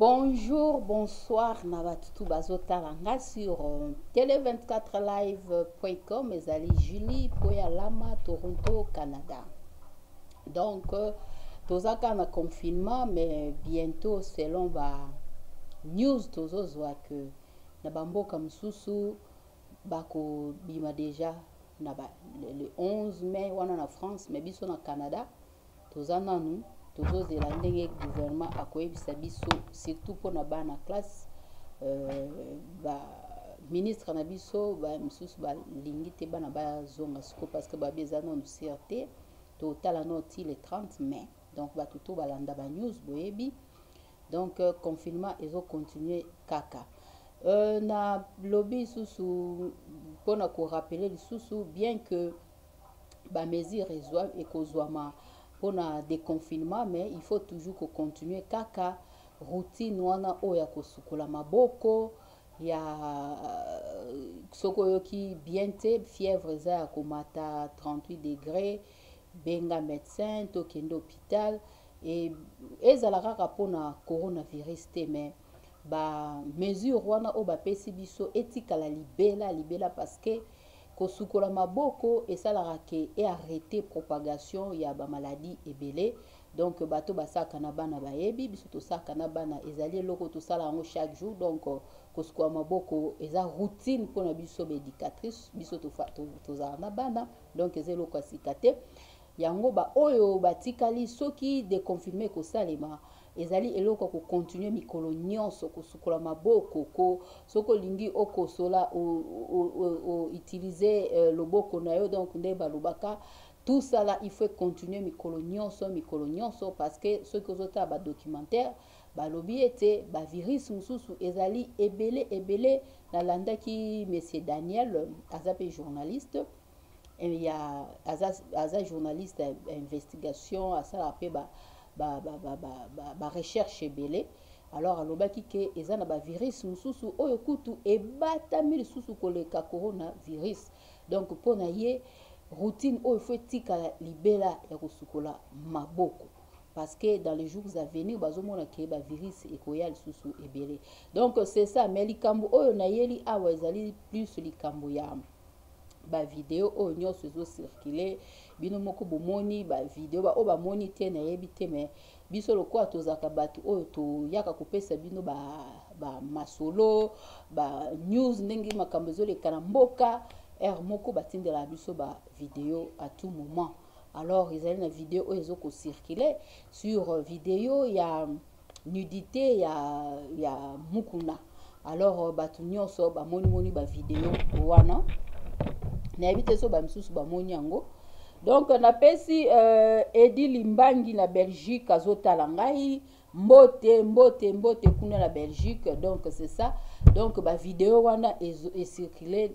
Bonjour, bonsoir na batu tout bazo tala nga sur euh, tele24live.com ezali Julie Poya Lama Toronto Canada. Donc euh, toza ka na confinement mais bientôt selon ba news tozo zwa que na ba mboka mususu bako bima déjà na ba le 11 mai wana na France mais biso na Canada Toza nanu tozozela ndenge gouvernement akoyebisa biso surtout mpo na bana classe euh, ba ministre na biso ba misusu balingi te bana bazonga siko parce que babi eza nanu sur te totala no ti le 30 mai donc bato to balanda ba news boyebi donc euh, confinement ezo continuer kaka euh, na lobi lisusu mpo na korapele lisusu bien que ba mesures ezwa ekozwama pona deconfinement mais il faut toujours ko continuer kaka routine wana oyo ya kosukola maboko ya soki oyoki bien te fièvre eza ya komata 38 degre benga médecin to kende hôpital et ezala kaka pona coronavirus te mais ba mesure wana oyo bapesi biso etikala libela libela parce que kosukola maboko esalaka ke e arrete propagation ya bamaladi ebele donc bato basalaka na bana bayebi biso tosalaka na bana ezali eloko tosala yango chaque jour donc kosukola maboko eza routine mpona biso baédicatrice biso tozalaka na bana donc eza eloko ya sika te yango baoyo batikali soki deconfinement ekosalema Ezali eloko ya ko continuer mikolo nionso, kosukola maboko, ko soki olingi okosola o o o o utiliser loboko na yo donc nde balobaka tout ça là il faut e continuer mikolo nionso mikolo nionso parce que soki ozotala ba documentaires balobi ete ba virus mosusu ezali ebele ebele nalandaki monsieur Daniel aza pe journaliste eh, ya aza, aza journaliste ya investigation asalaka mpe ba, ba, ba, ba, ba, ba, ba recherche ebele alors alobaki ke eza na bavirus mosusu oyo kutu ebatami lisusu koleka coronavirus donc mpo na ye routine oyo fo etikala libela ya kosukola maboko parce que dans les jours à venir bazomona ke bavirus ekoya lisusu ebele donc c'est ça mais likambo oyo nayeli awa ezali plus likambo ya ba video oyo nyonso ezo circule bino moko bomoni ba video ba oyo bamoni te nayebi te mais biso lokola tozalaka bato oyo toyaka kopesa bino ba, ba masolo ba news ndenge makambo ezoleka na mboka heure moko batindelaka biso ba video à tout moment alors ezali na video oyo ezokocircule sur video ya nudite ya, ya mukuna alors euh, bato nyonso bamonimoni bavideo wana nayebi te so bamisusu bamoni yango donc napesi euh, edi limbangi na belgique azotala ngai mbote mbote mbote kuna na belgique donc c'est ça donc bavideo wana ecircule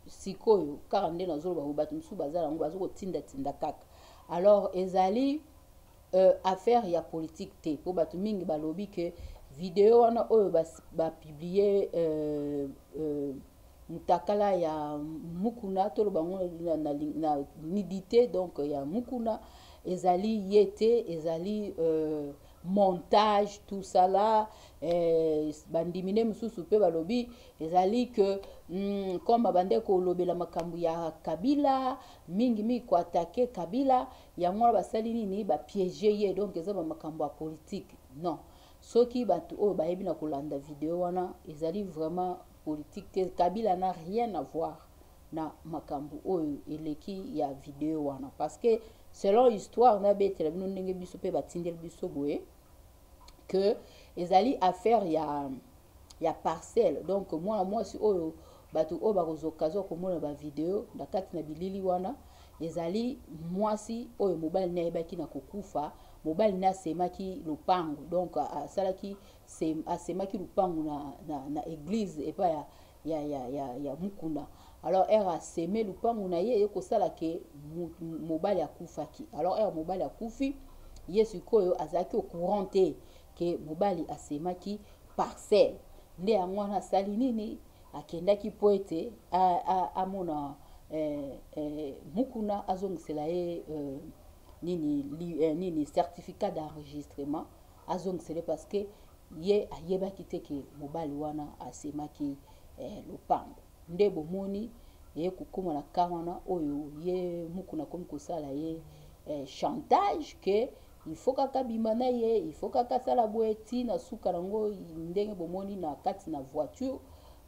sikoyo kaka nde nazoloba bato mosusu baza yango bazokotindatinda kaka alors ezali Euh, affaire ya politique te mpo bato mingi balobi ke video wana oyo bapiblie ba euh, euh, mutakala ya mukuna toloba ngo na, na, na nidite donc ya mukuna ezali ye te ezali euh, montage tout ça là eh, bandimi nde mosusu mpe balobi ezali ke mm, comme abandaki kolobela makambo ya kabila mingimingi koatake kabila yango wana basali nini ba piege ye donc eza bamakambo ya politike non soki bato oyo bayebi na kolanda video wana ezali vraiment politique te kabila na rien à voir na makambo oyo eleki ya video wana parce que selon histoire nabetela bino ndenge biso mpe batindeli biso boye que ezali affaire ya ya parcelle donc mwana mwasi oyo bato oyo bakozokazwa komona bavideo na kati na bilili wana ezali mwasi oyo mobali ne ayebaki na kokufa mobali ne asemaki lopango donc asalaki asemaki lopango na, na, na eglise epai ya ya, ya, ya, ya mukuna alors ere aseme lupangu na ye eye kosala ke mobali akufaki alors ere mobali akufi ye sikoyo azalaki au courant te ke mobali asemaki parcelle nde yango wana asali nini akendaki mpo ete amona eh, eh, mukuna azongisela ye eh, nini, li, eh, nini certificat d'enregistrement azongisele parce que Ye ayebaki te ke mobali wana asemaki lopango. Nde bomoni eye kokoma na cas wana oyo ye Mukuna akomi kosala ye chantage ke il faut kaka abima na ye, il faut kaka asala boye ti na suka nango ndenge bomoni na kati na voiture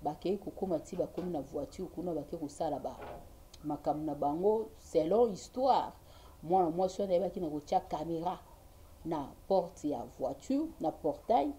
bakeyi kokoma ti bakomi na voiture kuna bake kosala ba makambo na bango selon histoire mwana mwasi wana ayebaki na kotia camera na porte ya voiture na portail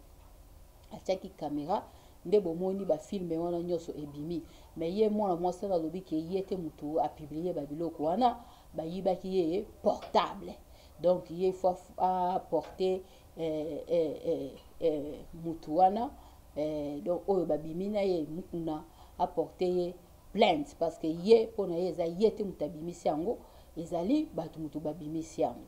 atiaki kamera nde bomoni bafilme wana nyonso ebimi me ye mwana mwasi wana alobi ke ye te motu apiblie babiloko wana bayibaki ye portable donc ye fo aporte eh, eh, eh, eh, motu wana eh, donc oyo babimi na ye mukuna aporte ye plainte parce que ye mpo na ye eza ye te moto abimisi yango ezali bato moto babimisi yango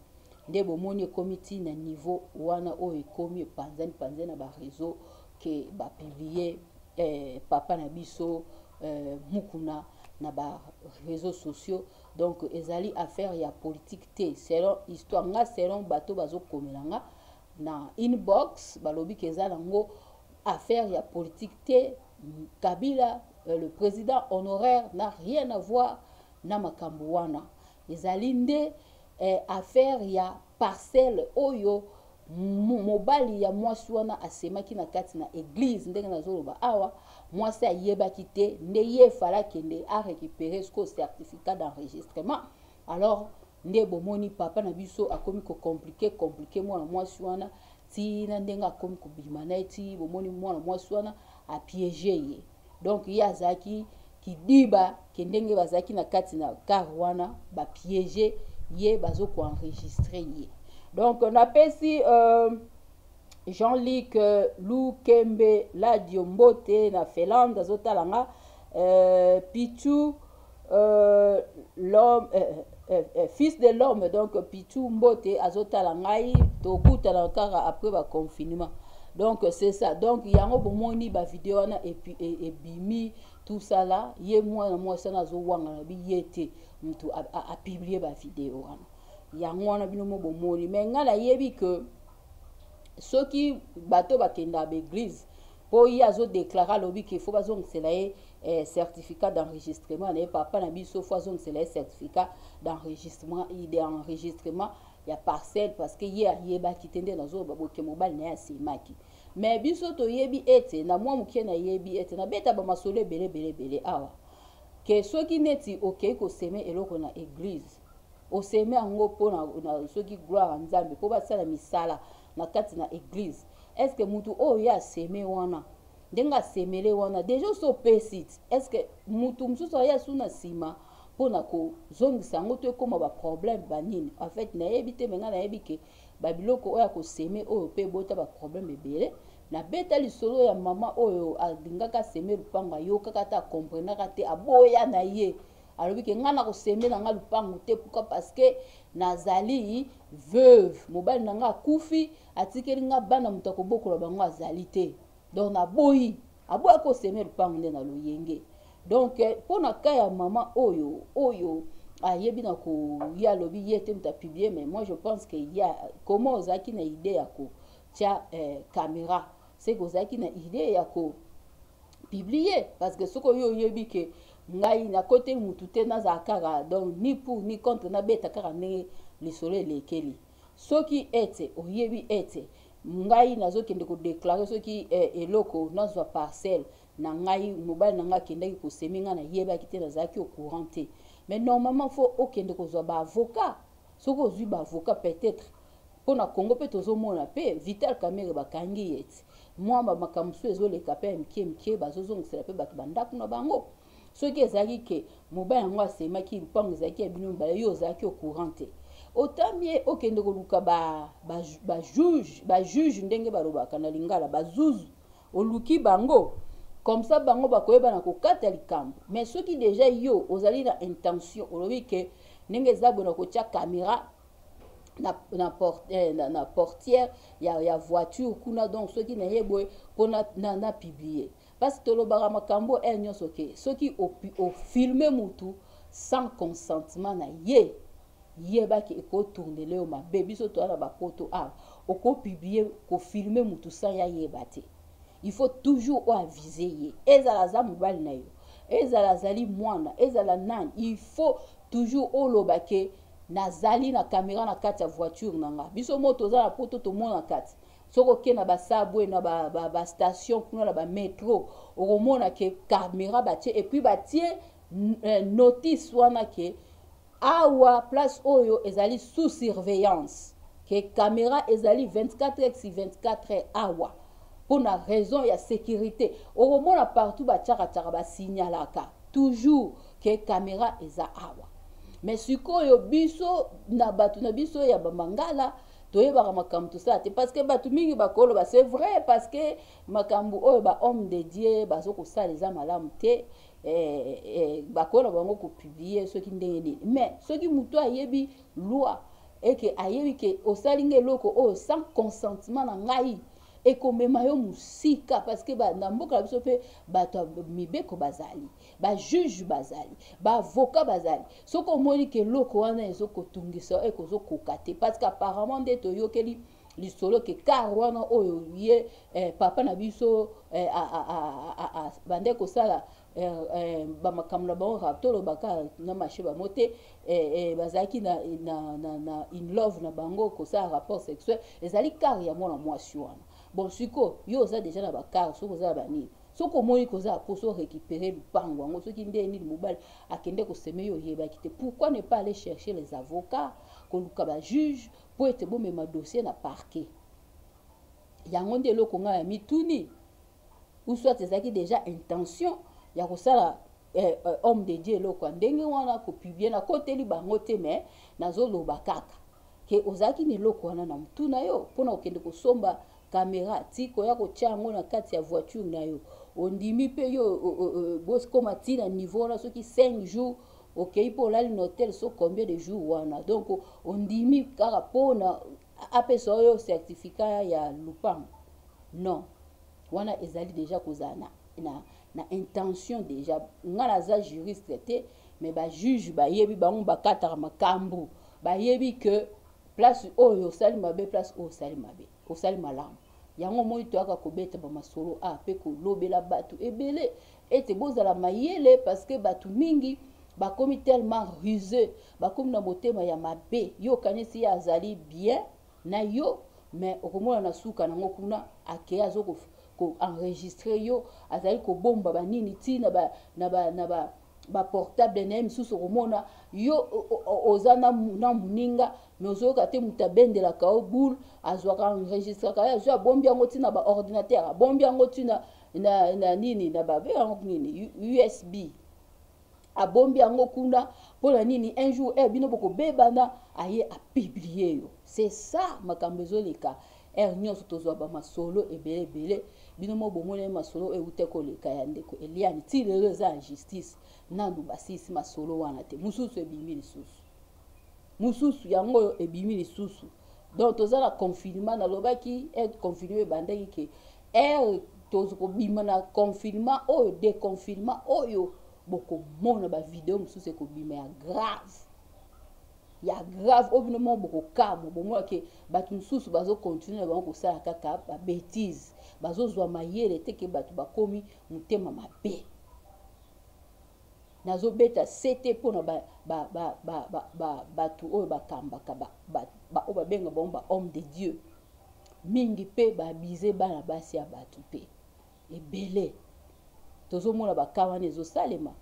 nde bomoni ekomi ti na niveau wana oyo ekomi epanzani panzani na bareseau ke bapiblie eh, papa na biso eh, mukuna na bareseau sociaux donc ezali affaire ya politique te selon histoire nga selon bato bazokomela nga na inbox balobi ke eza nango Affaire ya politique te, Kabila euh, le président honoraire n'a rien à voir na makambo wana. Ezali nde eh, affaire ya parcelle oyo mobali ya mwasi wana asemaki na kati na eglize ndenge nazoloba awa mwasi ayebaki te nde ye fala akende arécupere siko certificat d'enregistrement alors nde bomoni papa na biso akomi kocomplike complike mwana mwasi wana ti na ndenge akomi kobima na ye ti bomoni mwana mwasi wana apiege ye donc ye azalaki kidiba ke ndenge bazalaki na kati na kar wana bapiege ye bazokoenregistre ye donc napesi euh, jean luc euh, lukembe ladio mbote na felande azotala nga euh, pichu Euh, l'homme eh, eh, eh, eh, fils de l'homme donc pichu mbote azotala ngai tokutana kaka après baconfinement donc c'est ça donc yango bomoni bavideo wana ebimi e, tout ça là ye mwana mwasi wana azowangana bi ye te motu apiblie bavideo wana yango wana bino mo bomoni mai ngai nayebi ke soki bato bakendaka baeglize po ye azo declare alobi ke fo bazongisela ye eh, certificat d'enregistrement na ye papa na biso fo azongisela ye certificat d'enregistrement d'enregistrement ya parcelle parce que ye ayebaki te nde nazoloba boke mobali na ye asemaki me biso toyebi ete na mwa moke nayebi ete nabeta bamasolo ebele ebele ebele awa ke soki neti okei koseme eloko na eglize oseme yango mpo na, na soki gloire ya nzambe mpo basala misala na kati na eglize est ce que mutu oyo ye aseme wana ndenge asemele wana deja osi opesi est ce que mutu mosusu aye asu na nsima mpo na kozongisa yango to ekóma baproblème banini en fait nayebi te me ngai nayebi ke babiloko oyo akoseme oyo mpe ebota baproblème ebele nabeta lisolo ya mama oyo alingaka aseme lupango ayokaka te akomprenaka te aboya na ye alobi ke ngai nakoseme na ngai lupango te pourkui parce que nazali veuve mobali na ngai akufi atikeli nga bana moto akobokola bango azali te donc naboyi aboya koseme lupango nde na loyenge donc eh, mpo na ka ya mama oyo oyo ayebi na koya alobi ye te moto apiblie mais moi je pense que ya koma ozalaki na idee ya kotya eh, camera seke ozalaki na idee ya ko piblie parce que soki oyo oyebi ke ngai nakote mutu te nazala kaka donc ni pour ni contre nabeta kaka ndenge lisolo elekeli soki ete oyebi ete ngai nazokende kodeklare soki eh, eloko nazwa parcelle na ngai mobali na ngai akendaki kosemi ngai nayebaki te nazalaki au courant te mais normalement fo okende kozwa baavocat soki ozwi baavocat peut-être mpo na congo mpe tozomona mpe vital kamere bakangi ye ti mwa bamakambo mosusu ezoleka mpe ya mike mike bazozongisela mpe bato bandako na bango soki ezalaki ke mobali yango asemaki lupango ezalaki ya bino mibale yo ozalaki au courant te otami ye okende koluka bajuge ba, ba, ba ndenge balobaka na lingala bazuzu oluki bango comme ça bango bakoyeba na kokata likambo mais soki deja yo ozali na intention olobi ke ndenge eza boye na kotya kamera na, na, port, eh, na, na portière ya, ya voiture kuna donc soki naye boye mpo na, na, na publier Parce tolobaka makambo eh nyoso ke soki o filme mutu sans consentement na ye yeba ke eko tourner leo mabe biso toana ba poto awa oko publier ko filmer mutu sans ya yeba te il faut toujours o aviser ye ezala aza mobali na yo ezala azali mwana ezala nani il faut toujours oloba ke nazali na kamera na kati ya voiture na nga biso mo toza na poto tomona kati soki oke na basabwe na bastation ba, ba kuna na bametro okomona ke camera batie epuis batie eh, notice wana ke awa place oyo ezali sous surveillance ke camera ezali 24 heures si 24 heures awa mpo na raison ya sécurité okomona partout batiakatiaka basignalaka toujours ke camera eza awa me sikoyo biso na bato na biso ya bamangala toyebaka makambo tosala te parce que bato mingi bakoloba c'est vrai parce que makambo oyo ba homme de dieu bazo kosala eza malamu te eh, eh, bakola bango kopublie soki ndenge nini mais soki moto ayebi loi eke ayebi ke osali nga eloko oyo sans consentement na ngai ekomema yo mosika parce que na mboka na biso mpe bato ya mibeko bazali ba juge bazali ba avocat bazali soki omoni ke eloko wana ezokotungisa oyo ekozokoka te parce que apparemment nde toyokeli lisolo ke kar wana oyo ye eh, papa na biso eh, bande kosala eh, eh, bamakambo na bango kaka toloba kaka na marché bango te eh, eh, bazalaki na, na, na, na in love na bango kosala rapport sexuel ezali kar ya mwana mwasi wana bon siko yo oza deja na bakar soki oza na banini soki omoni koza akosi o récupérer lupango yango soki nde nini mobali akende koseme yo oyebaki te pourquoi ne pas aller chercher les avocats koluka ba juge mpo ete bomema dossier na parquet yango nde eloko ngai ya mituni ou soit ezalaki déjà intention ya kosala eh, eh, homme de dieu eloko ya ndenge wana kopiblie nakoteli bango te mais nazoloba kaka ke ozalaki na eloko wana na mutu na yo mpo na kokende kosomba kamera ti koya kotya yango na kati ya voiture na yo ondimi mpe yo bokoma ti na niveau wana soki 5 jours okei mpo olali na hotel so combien de jours wana donc ondimi kaka mpo na apesa oyo certificat ya lupango non wana ezali deja kozala na, na, na intention deja ngai naza juriste te mais bajuge bayebi bango bakataka makambo bayebi ke place oyo osali mabe place oyo osali mabe osali malamu yango omoni toyaka kobeta bamasolo a mpe kolobela bato ebele ete bozala mayele parceke bato mingi bakomi tellement ruseux bakomi na motema ya mabe yo okanisi ye azali bien na yo mais okomona na suka nango kuna akei azo koenregistre yo azali kobomba banini ti na ba, na ba, na ba baportable na ye misusu okomona yo oza na moninga me ozoyoka te moto abendelaka yo boule azwaka enregistraka ye azwi abombi yango ntina baordinateur abombi yango ntina na, na nini na babe yango nini usb abombi yango kuna mpo na nini un jour eh, bino bokobebana aye apiblie yo c'est ça makambo ezoleka ere nyonso tozwa bamasolo ebele ebele bino mo bomoneli masolo oyo euta koleka ya ndeko eliane ti lelo eza ya justice nanu basilisi masolo wana te mosusu ebimi lisusu mosusu yango oyo ebimi lisusu donc toza na confinement nalobaki aide confinement ebandaki ke Ere tokobima na confinement oyo deconfinement oyo bokomona bavideo mosusu ekobima ya grave ya grave oyo bino moko bokokamwa bomona ke bato mosusu bazokontinue na bango kosala kaka babetise bazozwa mayele te ke bato bakomi motema mabe Nazo beta sete pona ba ba ba ba ba ba batu oyo ba kambaka ba ba ba oyo ba benga bango ba homme de Dieu mingi pe ba abuse bana basi ya batu pe ebele tozo mona ba cas wana ezo salema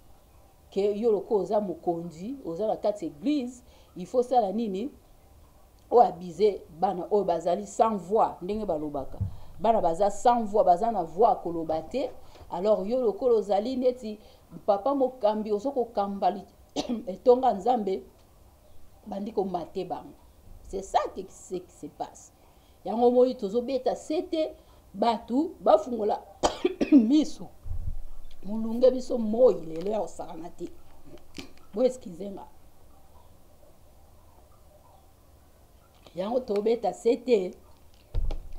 ke yo lokola oza mokonzi oza na kati eglise il faut sala nini o abuse bana oyo bazali sans voix ndenge balobaka bana baza sans voix baza na voix ya koloba te alors yo lokola ozali neti papa mokambi ozo kokamba etonga nzambe bandi komate bango c'est ça qui se passe yango omoni tozobeta sete bato bafungola miso molunge biso moi lelo ya kosakana te boeskize nga yango tobeta sete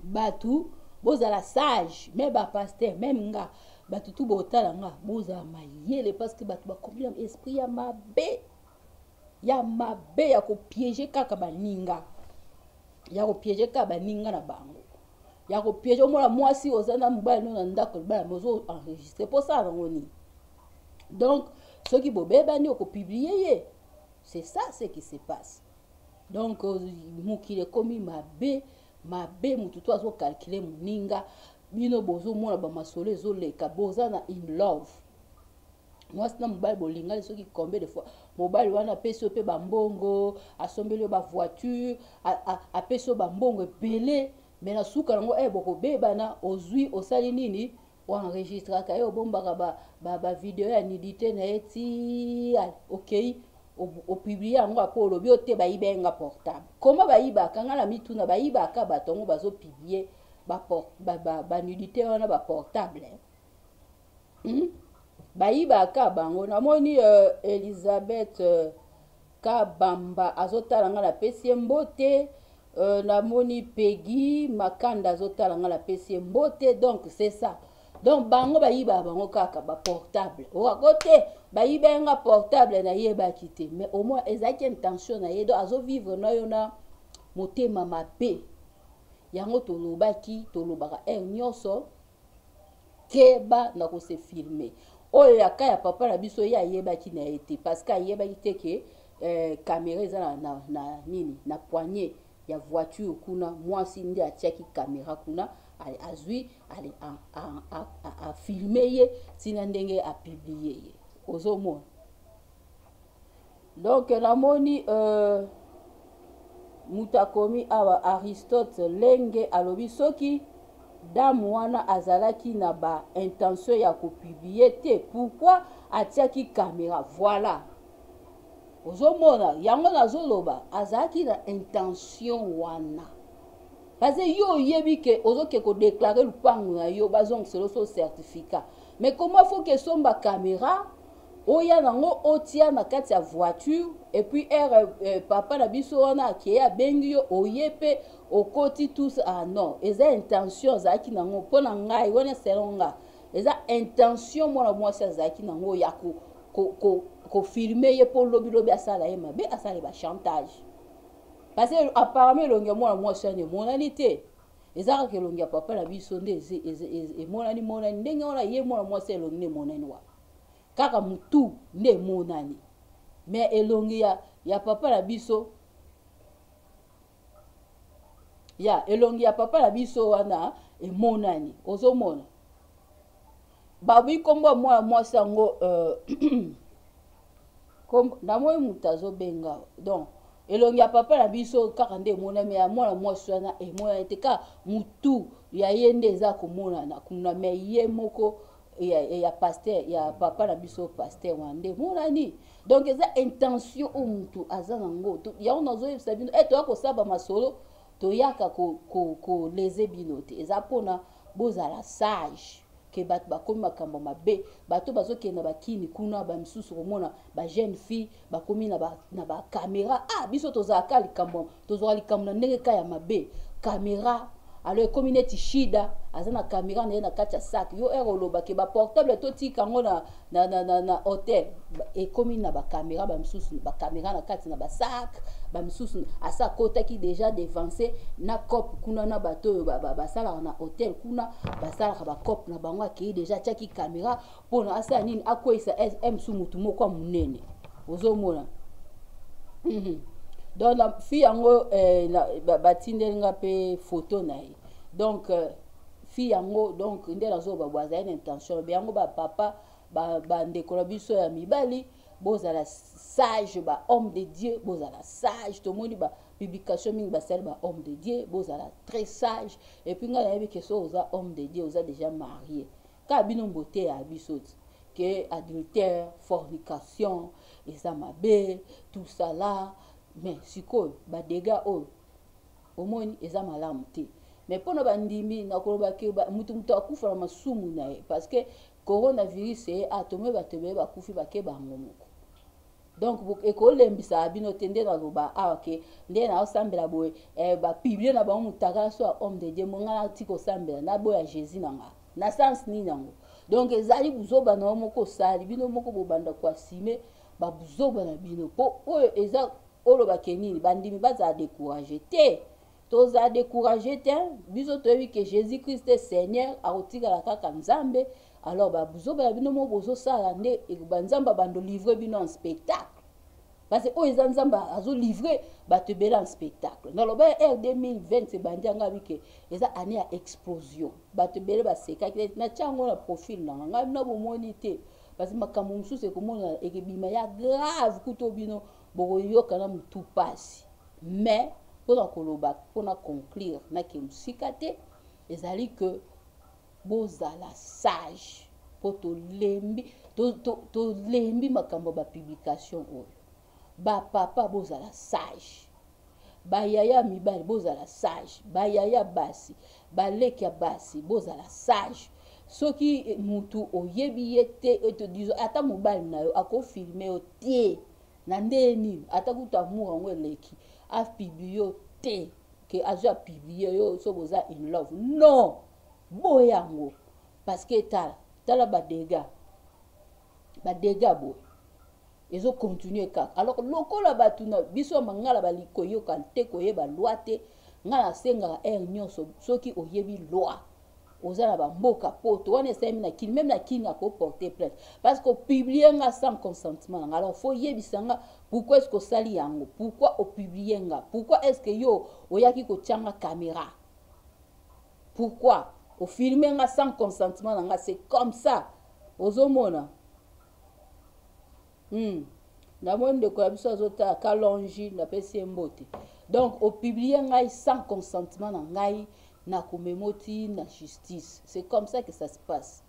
bato bozala sage me bapaster meme nga bato tu botala nga bozala mayele parce que bato bakomi na esprit ya mabe ya mabe ya kopiege kaka baninga ya kopiege kaka baninga na bango ya kopiege omona mwasi oza na mobali no na ndako libala mozo enregistre mpo osala nango nini donc soki bobebani okopiblie ye C'est ça ce qui se passe. Donc euh, mokili ekomi mabe mabe motu to azocalcule moninga bino bozomona bamasolo ezoleka boza na in love mwasi na mobali bolingani soki combien de fois mobali wana apesi yo mpe bambongo asombeli yo bavoiture apesi yo bambongo ebele me na suka yango e eh, bokobebana ozwi osali nini o enregistraka ye obombaka ba, ba, ba video ya nudité na ye ti okei opublie yango apo olobi ote bayiba nga portable koma bayibaka nga na mituna bayibaka bato yango bazopublie banudité wana baportable eh? hmm? bayibaka bango namoni uh, elizabeth uh, Kabamba azotala nga napesi ye mbote euh, namoni Peggy Makanda azotala nga napesi ye mbote donc c'est ça donc bango bayiba bango kaka ba portable owako te bayiba ye nga portable nayebaki te mais au moins ezalaki intention na ye donc azovivre na yo na motema mabe yango tolobaki tolobaka heure nyonso keba na ko se filmer oyo ya ka ya papa na biso ye ayebaki na ye te parce que ayebaki te ke eh, kamera eza na, na, na nini na poignet ya voiture kuna mwasi nde atiaki kamera kuna azwi afilme ye ntina ndenge apiblie ye ozomona donc namoni euh, moto akomi awa aristote lenge alobi soki dame wana azalaki na ba intention ya kopiblie te pourkui atiaki kamera voilà ozomona yango nazoloba azalaki na intention wana parce yo oyebi ke ozoke kodeklare lupango na yo bazongisela oso certificat mais comment faut kesomba kamera oya nango otia na kati ya voiture et puis ere euh, papa na biso wana akeye abengi yo oye mpe okoti tous ah non eza intention azalaki nango mpo na ngai wana selon nga eza intention mwana mwasi azalaki nango ya ko, ko, ko, kofilme ye mpo lobilobi asala ye mabe asala ye bachantage parce que apparemment elongi ya mwana mwasi wana emonani te eza kaka elongi ya papa na biso nde emonani monani ndenge wana ye mwana mwasi elongi nde emonani wana kaka mutu nde emonani me elongi ya, ya papa na biso ya elongi ya papa na biso wana emonani ozomona babi nkombo ya mwana mwasi yango euh, namoni moto azobenga donc elongi ya papa na biso kaka nde emonami ya mwana mwasi wana emonani te kaka motu ya ye nde eza komonana kuna me ye moko ya, ya pasteur ya papa na biso pasteur wana nde emonani donc eza intention oyo motu aza nango yango nazoyebisa bino e eh, toya kosaba masolo toyaka koleze ko, ko bino te eza mpona bozala sage ke bato bakomi makambo mabe bato bazokende na bakini kuna bamisusu komona bajeune fille bakomi na bakamera ba ah biso tozalaka likambo tozwaka likambo na ndenge ka ya mabe kamera alo ekomi neti shida aza na kamera na ye na kati ya sak yo ere oloba ke baportable totika yango na, na, na, na, na hotel ekomi na bakamera bamisusu bakamera na kati na basak bamisusu asi akotaki deja devanse na cope kuna na bato oyo basalaka ba, ba na hotel kuna basalaka bacope na bango akei deja atiaki kamera mpo na asala nini akweisa msu motu moko ya monene ozomona mhm. donc na fi yango eh, batindeli nga mpe foto na ye donc euh, fi yango donc nde nazoba bo azali na intention be yango bapapa bandeko na biso ya mibali bozala sage ba homme de dieu bozala sage tomoni ba publication mingi basali ba homme de dieu bozala très sage epuis ngai nayebi ke so oza homme de dieu oza déjà marie Kaka bino boteya biso que adultère, fornication eza mabe, tout ça là. Mais sikoyo ba dégâts oyo omoni eza malamu te. Mais pona ba ndimi na koloba que mutu mutu akufa na masumu na ye parce que coronavirus eye a tomoni bato ebele bakufi bake bango moko donc ekolembisaka bino te nde naloba awa ah, ke nde naosambela boye eh, bapiblie na bango motakala so ya homme de dieu mo ngai nati kosambela naboya jésus na ngai na sens nini yango donc ezali buzoba na yo moko osali bino moko bobanda koasime babuzoba na bino mpo oyo eza olobake nini bandimi bazala decourage te tozala decourage te biso toyebi ke jésus christ e seigneur akotikala kaka nzambe alors babuzoba ya bino moko bozosala nde banzambe abando livre bino en spectacle parce oyo eza nzambe azolivre bato ebele en spectacle naloba ya r 2020 ebandi yanga bike eza année ya explosion bato ebele basekaki neti natya yango na profile na nga ngai bino bomoni te parce makambo mosusu ekomona ekebima ya grave kuto bino bokoyoka na motu mpasi mais mpo na koloba mpo na conclure nake mosika te ezali que bozala sage mpo tolembi tolembi makambo ya bapublication oyo bapapa bozala sage bayaya mibali bozala sage bayaya basi baleki ya basi bozala sage soki eh, mutu oyebi ye te eh, ata mobali na yo akofilme yo te na ndenge nini ata kutu amour yango eleki apiblie yo te ke azwi apiblie yo soki oza in love non boye yango parce que tala tala badega badega boye ezo continuer kaka alors lokola bato na biso ya mangala bali koyoka te koyeba loi te ngai nasengaka aire nyonso soki oyebi loi oza na bamboka poto wana esalemi na kini meme na kini akoporte plainte parce que opiblie nga sans consentement na nga alors fo yebisa nga pourquoi est ce que osali yango pourquoi opiblie nga pourquoi est ce que yo oyaki kotya nga caméra pourquoi ofilme nga sans consentement na nga c'est comme ça ozomona hmm. namoni ndeko ya biso azotala kalongi napesi ye mbote donc opublie ngai sans consentement na ngai na komema oti na justice c'est comme ça que ça se passe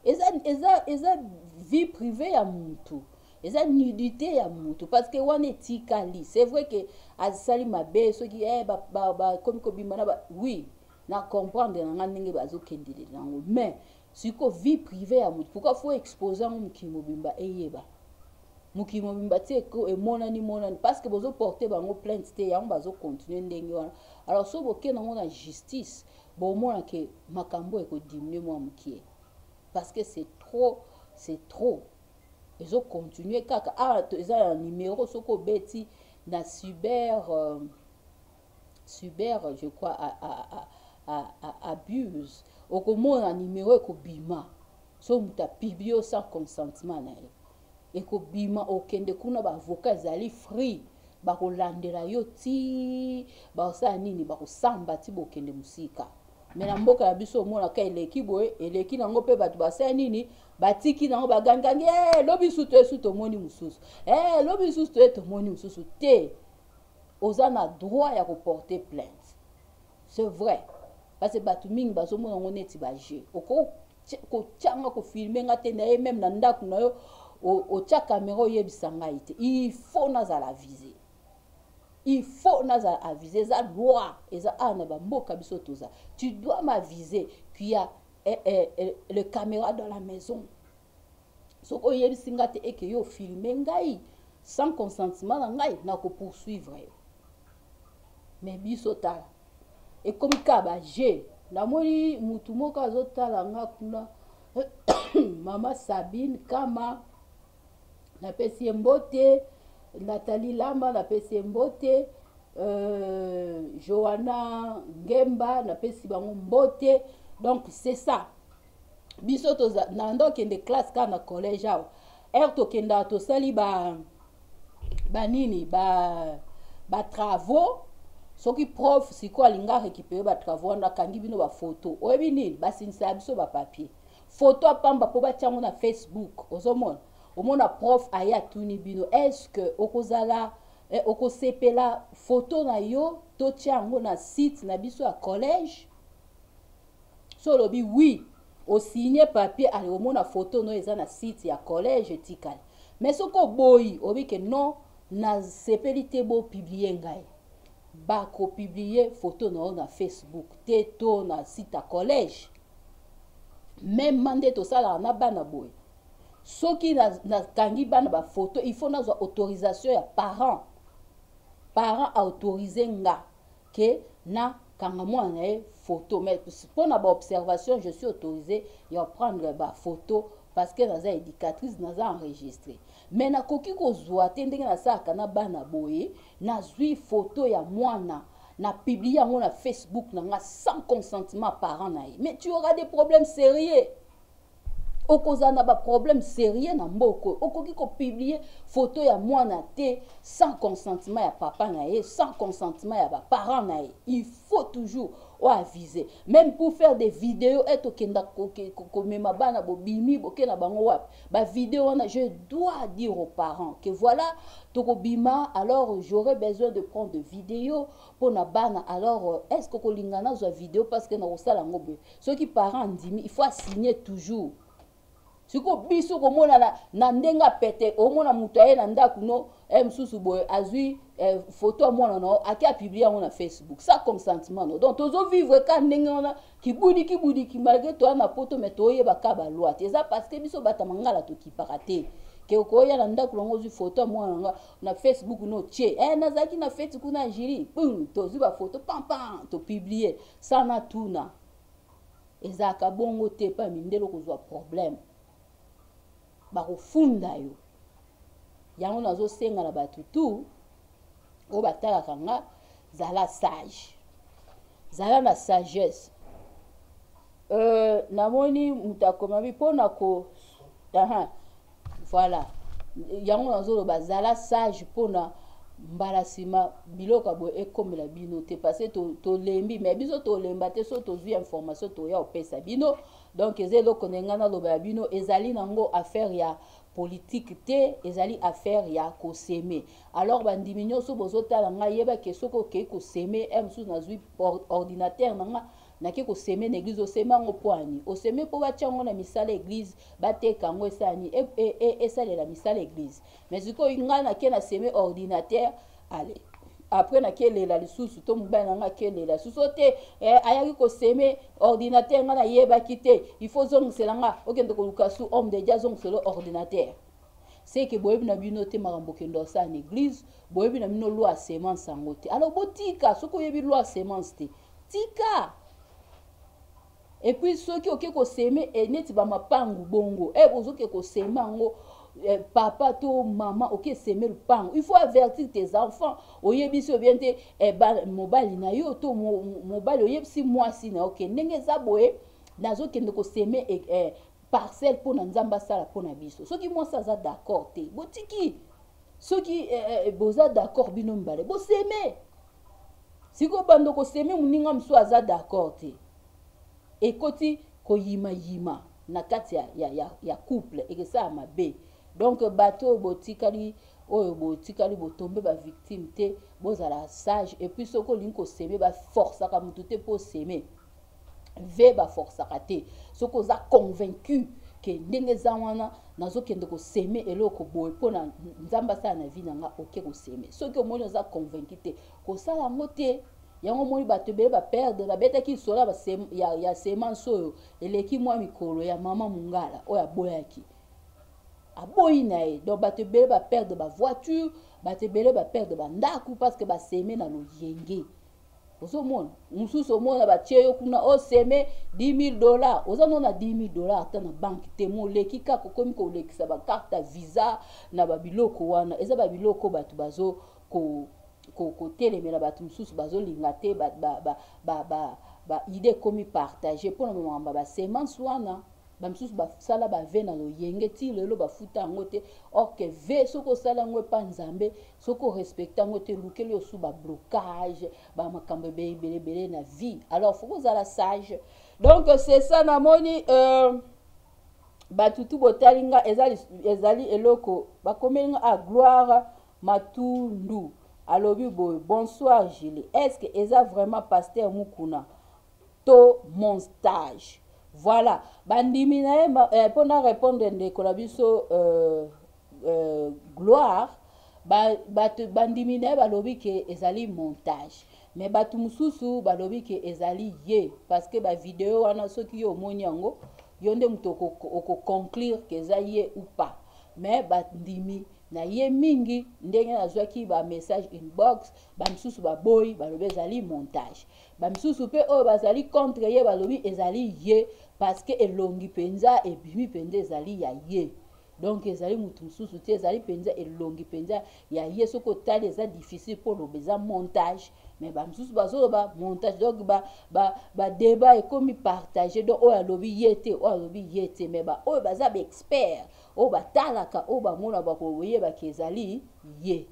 eza, eza, eza vie privée ya muntu eza nudité ya motu parce que wana etikali c'est vrai que asali mabe soki eh, bakomi kobima na ba oui na comprendre na ngai ndenge bazokendelela yango mais Siko vie privee ya mutu pourquoi faut exposer yango mokili mobimba eyeba? Mokili mobimba ti emonani monani parce que bozo porter bango plainte te yango bazo continuer ndenge wana. Alors soki bokei nango na justice bomona ke makambo eko diminuer mwa mokie parce que c'est trop c'est trop ezo continuer kaka awa eza na numero soki obeti na cyber euh, cyber je crois a, a, a, a, a, abuse okomona numero ekobima so moto apiblie yo sans consentement na ye ekobima okende kuna baavoka ezali free bakolandela yo ti bakosala nini bakosamba ti bokende mosika me na mboka na biso omonaka eleki boye eleki nango mpe bato basala nini batiki nango bagangangi e eh, lobi susu toye susu tomoni mosusu e eh, lobi susu toye tomoni mosusu te oza na droit ya ko porter plainte c'est vrai parce que bato mingi bazomona yango neti bajeu okoki kotyanga kofilme nga te naye meme na ndako na yo otya kamera oyebisa ngai te il faut nazala avise il faut nazala avise eza loi eza awa na bamboka biso toza tu dois m'avise kuya eh, eh, eh, le caméra dans la maison soki oyebisi nga te eke yo filme ngai sans consentement na ngai na ko poursuivre yo mais biso tala ekomi kaka ba jeu namoni mutu moko azotala nga kuna mama sabine kama napesi ye mbote natali lama napesi ye mbote euh, joana ngemba napesi bango mbote donc c'est ça biso toza nanda okende classe kaka na collège awa heure tokendaka tosali ba banini ba batravaux soki prof sikoyo alingi arécupere batravaux wana akangi bino bafoto oyebi nini basinisaka biso bapapier foto apamba mpo batya yango na facebook ozomona omona prof aye atuni bino est ce que okozala eh, okosepela foto na yo totya yango na site na biso ya collège so olobi oui o signe papier ale omona photo no eza na site ya collège etikali mais soki oboyi obi ke non na sepeli te bo publier ngai ba ko publier photo na yo na facebook te to na site ya collège meme nde tosalaka na bana boye soki nakangi na bana bafoto il faut nazwa autorisation ya parent parent aautorise nga que na kanga mwana na ye photo mais pona ba observation je suis autorisé ya prendre ba photo parce que naza éducatrice naza enregistré mais nakoki kozwa te ndenge nasalaka na bana boye nazwi photo ya mwana na publie yango na facebook na nga sans consentement parent na ye mais tu auras des problèmes sérieux okozala na baproblème sérieux na mboka oyo okoki kopublie foto ya mwana te sans consentement ya papa na ye sans consentement ya baparent na ye il faut toujours oavise même pour faire des vidéos ete okenda komema bana bobimi boke na bango wapi bavideo wana je dois dire aux parents que voilà tokobima alors j'aurai besoin de prendre de vidéo mpo na bana alors est ce que okolingana azwa vidéo parce que nakosala yango boye soki parent andimi il faut asigne toujours sikoyo biso komona na, na ndenge apete omona moto aye na ndako no e mosusu boye azwi eh, foto ya mwana na yo ake apiblie yango na facebook sa consentement no donc tozovivre ka ndenge wana kibudi kibudi kimalgre toya na poto mai toyeba ka baloi te eza parce que biso bata mangala tokipaka te ke okoya na ndako nango ozwi foto ya mwana nanga na facebook no tie e eh, nazalaki na feti kuna jili pum tozwi bafoto pampam topiblie Sana tuna ezalaka bongo te pa mindele okozwa problème bakofunda yo yango nazosenga na bato tu oyo batalaka nga zala sage zala na sagesse euh, namoni moto akomami mpo na ko aha Voilà. Yango nazoloba zala sage pona mbala nsima biloko ya boye ekomela bino te parce tolembi to mais biso tolemba te so tozwi information toya kopesa bino donc eza eloko na ngai naloba ya bino ezali nango affaire ya politike te ezali affaire ya koseme alors bandimi nyonso bozotala ngai yebake soki okei koseme e mosusu nazwi ordinatere na ngai nake ko seme na eglise oseme yango poani oseme po batia yango na misala eglise bateka yango esala nini e, e, e, esalela misala eglise mais sikoyo ngai nake na seme ordinateur ale après nake lela lisusu to mobali na ngai akelela lisusu te eh, ayaki koseme ordinateur ngai nayebaki te il faut ozongisela ngai okende koluka su homme de dia azongisela ordinateur seke boyebi na bino te makambo okende osala na eglise boyebi na bino loi ya semence yango te alors botika soki oyebi loi ya semence te Tika! Et puis soki oke ko seme eh, neti ba mapangu bongo eh, ozoke ko seme yango eh, papa to mama oke seme lupangu il faut avertir tes enfants oyebisi yo bien te eh, ba, mobali na yo to mo, mobali oyebisi mwasi na yo ke ndenge eza boye nazokende koseme eh, eh, parcelle mpo na nzambe asala mpo na biso soki mwasi aza d'accord te botiki soki eh, eh, boza d'accord bino mibale boseme siko bando koseme moninga mosusu aza d'accord te ekoti koyimayima na kati ya, ya, ya, ya couple ekesala mabe donc bato oyo botikali oyo botikali botombe bavictime te bozala sage epuis soki olingi koseme baforcaka motu te mpo oseme ve ba forçaka te soki oza convaincu ke ndenge eza wana nazokende koseme eloko boye mpo na nzambe asala na vi na nga oke koseme soki omoni oza convaincu te kosala yango te yango omoni bato ebele baperdre babetaki lisolo ya, ya semence oyo eleki mwa mikolo ya mama mongala oyo aboyaki aboyi na ye donc bato ebele baperdre bavoiture bato ebele baperdre bandako parce que baseme na loyenge ozomona mosusu omona batie yo kuna oseme oh, 10000 dollar oza nona 10000 dollar ata na banke te moleki kaka okomi kolekisa bakarte ya visa na babiloko wana eza babiloko bato bazo kotelemela ko, ko bato mosusu bazolinga te baide ba, ba, ba, ba, ba ekomi partage mpo na makambo ya basemence wana bamosusu basala bave na loyenge ti lelo bafuta yango te orke ve soki osala yango epa nzambe soki o respecta yango te elukeli yo su ba blocage ba makambo ebele ebele ebele na vie alors faut kozala sage donc c'est ça namoni euh, bato tu botali nga ezali, ezali eloko bakomeli nga a ah, gloire matundu alobi boye bonsoir gile est ce que eza vraiment pasteur mukuna to mon stage voilà bandimi na ye mpo eh, na répondre ndeko na biso euh, euh, gloire bato ba, bandimi na ye balobi ke ezali montage me bato mosusu balobi ke ezali ye parce que bavideo wana soki yo omoni yango yo nde moto okoconclure ke eza ye ou pas me bandimi na ye mingi ndenge nazwaki bamessage inbox bamisusu baboyi balobi ezali montage bamisusu mpe oyo bazali contre ye balobi ezali ye parce que elongi mpenza ebimi mpenza ezali ya ye donc ezali motu mosusu te ezali mpenza elongi mpenza ya ye soki otali eza difficile mpo oloba eza montage mais bamosusu bazoloba montage donc badeba ba, ba ekomi partage donc oyo alobi ye te oyo alobi ye te mais baoyo baza baexpert oyo batalaka oyo bamona bakoyebaki ezali ye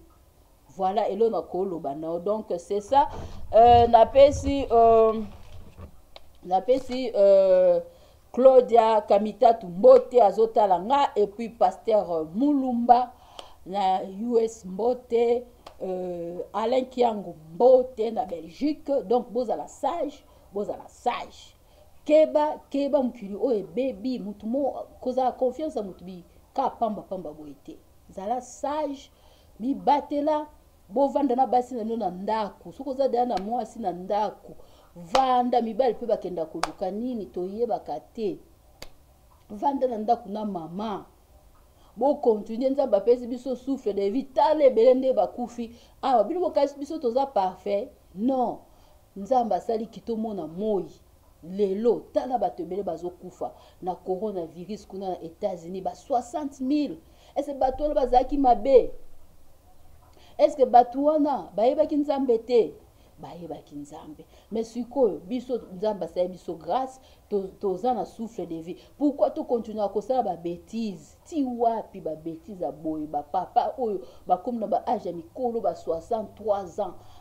Voilà elo na ko loba nao donc c'est ça euh, na pesi euh, na pesi euh, Claudia Kamitatu Mbote azotala nga et puis pasteur euh, Mulumba na US Mbote euh, Alain Kiango Mbote na Belgique donc bozala sage bozala sage keba keba mokili oyo ebebi motu mo kozala confiance ya motu bi ka pamba pamba boye te zala sage mibatela bovanda na basi na bino na ndako soki oza deya na mwasi na ndako vanda mibali mpe bakenda koluka nini toyebaka te vanda na ndako na mama bokontinue nzambe apesi biso souffle de vie tala ebele nde bakufi awa bino bokasi biso toza parfait non nzambe asali kitomona moi Lelo tala bato ebele bazokufa na corona virus kuna na Etats Unis ba 60 mille ese bato wana bazalaki mabe eske bato wana bayebaki nzambe te bayebaki nzambe me sikoyo biso nzambe asali biso grâce toza to na souffle de vie pourquoi tokontinua kosala babetise Ti wapi ba betises ya boye ba papa oyo bakomi na ba age ya mikolo ba 63 ans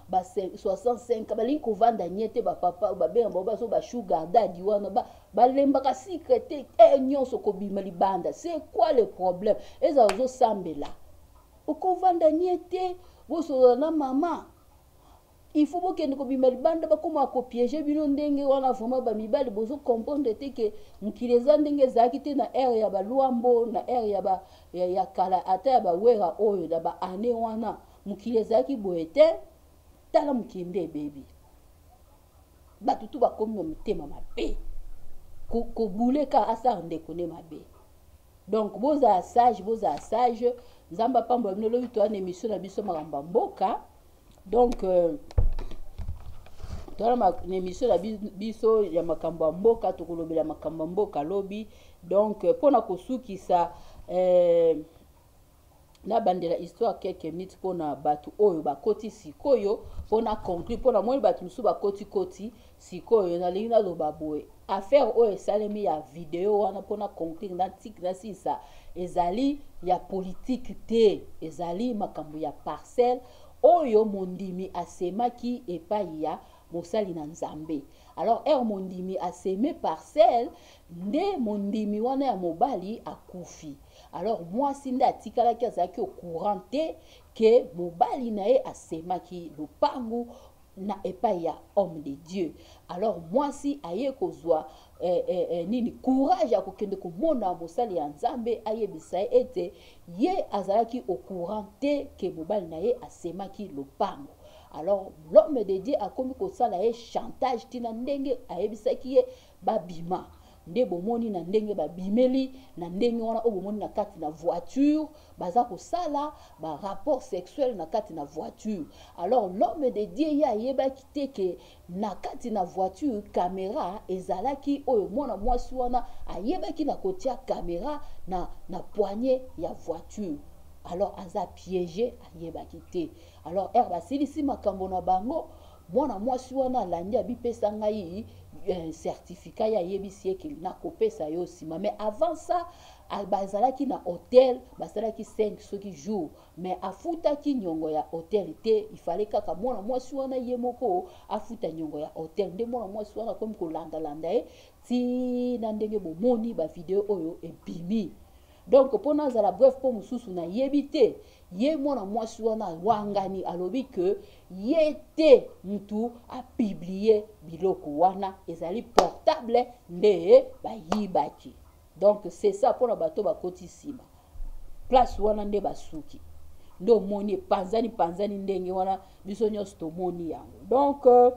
ba 65 balingi kovanda nye te ba papa oyo babenga bango bazo ba sugar daddy wana ba balembaka sucre te heure nyonso kobima libanda c'est quoi le problème ezala ozosambela okovanda nye te bosolola na mama Il faut bokende kobima libanda bakoma ko piège bino ndenge wana vraiment ba mibali bozo comprendre te que mokili eza ndenge ezalaki te na ère ya ba Luambo na ère ya ba ya, ya kala ata ya ba Wera oyo na ba année wana mokili ezalaki boye te tala mokili nde ebebi bato tu bakomi na mitema mabe kobule ka asala ndeko nde mabe donc bozala sage bozala sage nzambe apambola bino lobi toyana émission na biso makambo ya mboka donc euh, tala na émission na biso ya makambo ya mboka tokolobela makambo ya mboka lobi donc euh, mpo na kosukisa eh, nabandela histoire quelques minutes mpo na bato oyo bakoti sikoyo mpo na conclure mpo na moni bato mosusu bakotikoti Sikoyo nalingi naloba boye, affaire oyo esalemi ya video wana mpo na conclure na tik na sisa ezali ya politique te, ezali makambo ya parcelle oyo mondimi asemaki epai ya mosali na Nzambe. Alors heure mondimi aseme parcelle nde mondimi wana ya mobali akufi. Alors mwasi nde atikalaki azalaki au courant te que mobali na ye asemaki lopangu na epai ya homme de dieu alors mwasi aye kozwa eh, eh, eh, nini courage ya kokende komona mosali ya nzambe ayebisa ye ete ye azalaki au courant te ke mobali na ye asemaki lopango alors l'homme de dieu akomi kosala ye chantage ntina ndenge ayebisaki ye ba bima nde bomoni na ndenge ba bimeli na ndenge wana oyo bomoni na kati na voiture baza kosala ba rapport sexuel na kati na voiture alors l'homme de Dieu ye ayebaki te ke na kati na voiture camera ezalaki oyo mwana mwasi wana ayebaki na kotia camera na na poignée ya voiture alors aza piège ayebaki te alors heure basilisi makambo na bango Mwana mwasi wana alandi abipesa ngai eh, certificat ye ayebisi ye ke nakopesa yo nsima mais avant ça bazalaki na hotel basalaki 5 soki jour mais afutaki nyongo ya hotel te ifale kaka mwana mwasi wana ye moko afuta nyongo ya hotel nde mwana mwasi wana akomi kolandalanda ye ti na ndenge bomoni bavideo oyo ebimi donc mpo nazala bref mpo mosusu nayebi te ye mwana mwasi wana awangani alobi ke ye te mutu apiblie biloko wana ezali portable nde bayibaki donc c'est ça mpona bato bakoti nsima place wana nde basuki nde omoni epanzani panzani ndenge wana biso nyonso tomoni yango donc euh,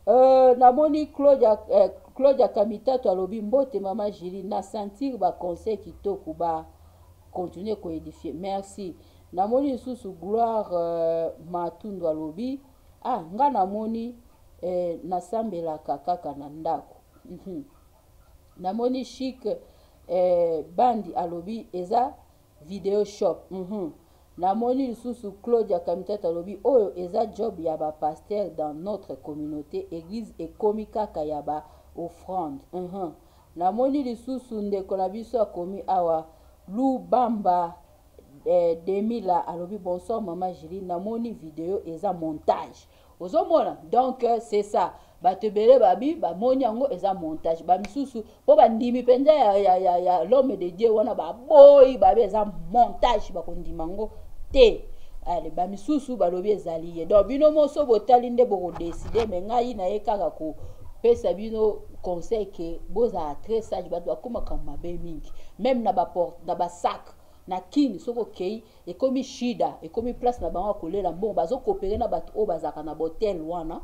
euh, namoni claudia euh, claudia kamitatu alobi mbote mama jili na sentir baconseil kitoko ba Continuer ko edifier. Merci. Namoni lisusu Gloire euh, Matundu alobi ah nga namoni eh, nasambelaka kaka na ndako. Mhm. Namoni chic eh, bandi alobi eza video shop. Mhm. Namoni lisusu Claudia Kamitata alobi oyo eza job ya ba pasteur dans notre communauté, église ekomi kaka ya ba offrande. Mhm. Na moni lisusu ndeko na biso akomi awa lubamba eh, demi la alobi bonsoir maman Julie na moni video eza montage ozo mona donc euh, c'est ça bato ebele babi bamoni yango eza montage bamisusu mpo bandimi mpenza ya, ya, ya, ya l'homme de dieu wana baboyi babi eza montage bakondima yango te ale bamisusu balobi ezali ye donc bino moso botali nde bokodeside me ngai naye kaka kopesa bino conseil ke bozala très sage bato bakomaka mabe mingi meme na baport na basac na kin soki okei ekomi shida ekomi place na bango ya kolela mbongo bazokopere na bato oyo bazalaka na bahotel wana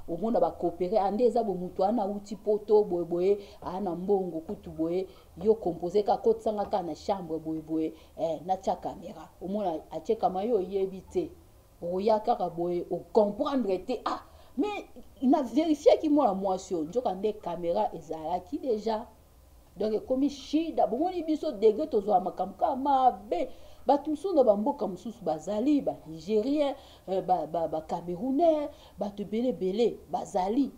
omona bakopere ande eza bo moto wana auti poto boye boye aa na mbongo kutu boye yo compose ka kotisanga kaka na chambre boye boye eh, natya kamera omona atyekama yo oyebi te okoya kaka boye ocomprendre te ah mais na verifiaki mwana mwasi oyo nzoka nde kamera ezalaki deja donc ekomi shida bomoni biso degre tozwa makambo kaka mabe bato mosusu na bamboka mosusu bazali banigérien euh, bacamerounais bato ebele ebele bazali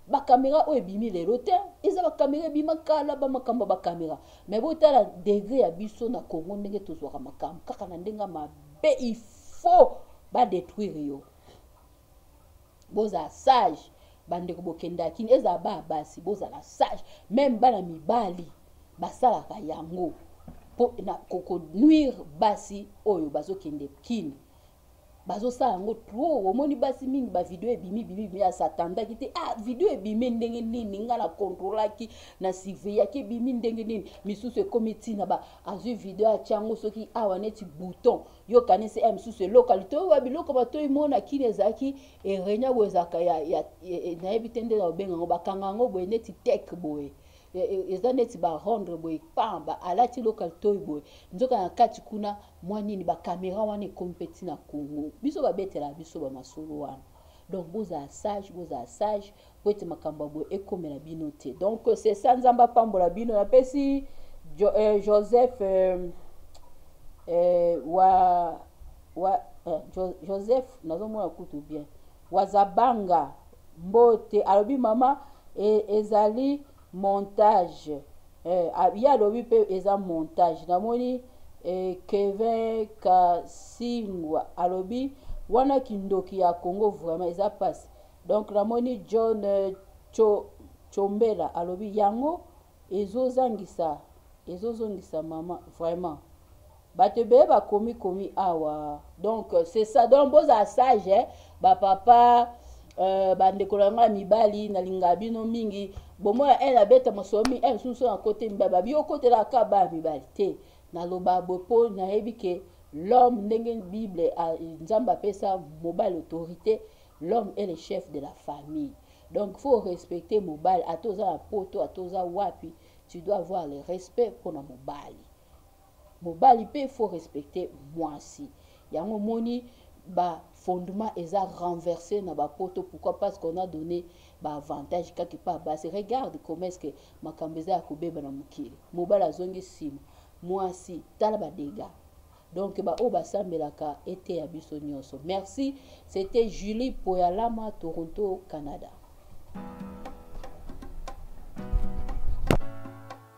bakamera oyo ebimi lelo te eza bakamera ebima kala bamakambo ya bakamera mai botala degre ya biso na congo ndenge tozwaka makambo kaka na ndenge mabe if faux ba detruire yo bozala sage bandeko bokendaka kini ezala bana basi bozala sage meme bana mibali basalaka yango mpo na konuire basi oyo bazokende kini bazosala yango trop omoni basi mingi bavideo ebimi bimi bimi asatandaki te ah video ebimi ndenge nini nga na kontrolaki na siveyaki ebimi ndenge nini misusu ekomi ntina ba azwi video atyango soki awa neti bouton ah, yo kanisi ya mosusu eloka litoyi wa biloko batoyi mo na kini ezalaki erenia boye ezalaka ya, ya, ya, nayebi te nde na obenga yango bakanga yango boye neti tek boye e, e, eza neti barondre boye pa ba alati eloka litoyi boye nzoka na kati kuna mwa nini bakamera wana ekomi mpe ntina kongo biso babetela biso bamasolo wana Donc bozala sage, bozala sage po ete makambo ya boye ekomela bino te. Donc c'est ça, Nzambe apambola bino. Napesi jo, euh, Joseph euh, euh, wa wa euh, jo, Joseph nazomona kutu bien wazabanga mbote alobi mama e, ezali montage Eh, ah, ye alobi mpe eza montage namoni eh, kevin kasingwa alobi wana kindoki ya congo vraiment eza mpasi donc namoni john eh, cho, chombela alobi yango ezozangisa ezozongisa mama vraiment Bato ebele bakomi komi awa donc c'est ça donc bozala sage eh? ba papa euh, bandeko na ngai mibali nalingaka bino mingi bomona ene abeta mosolo mingi ene mosusu na kote mibali babi okotelaka kaka bana mibali te naloba boye mpo nayebi ke l'homme ndenge bible nzambe apesa mobali autorité l'homme est le chef de la famille donc faut respecter mobali ata oza na poto ata oza wapi tu dois avoir le respect mpona mobali Mobali pe faut respecter muasi yango omoni ba fondement eza renverse na ba poto pourquoi parce qu'on a donne ba avantage kaka epa basi regarde comment est ce que makambo eza ya kobeba na mokili mobali azongi sima muasi tala ba dega donc ba oyo basambelaka eteya biso nyonso merci c'était Julie Poyalama Toronto Canada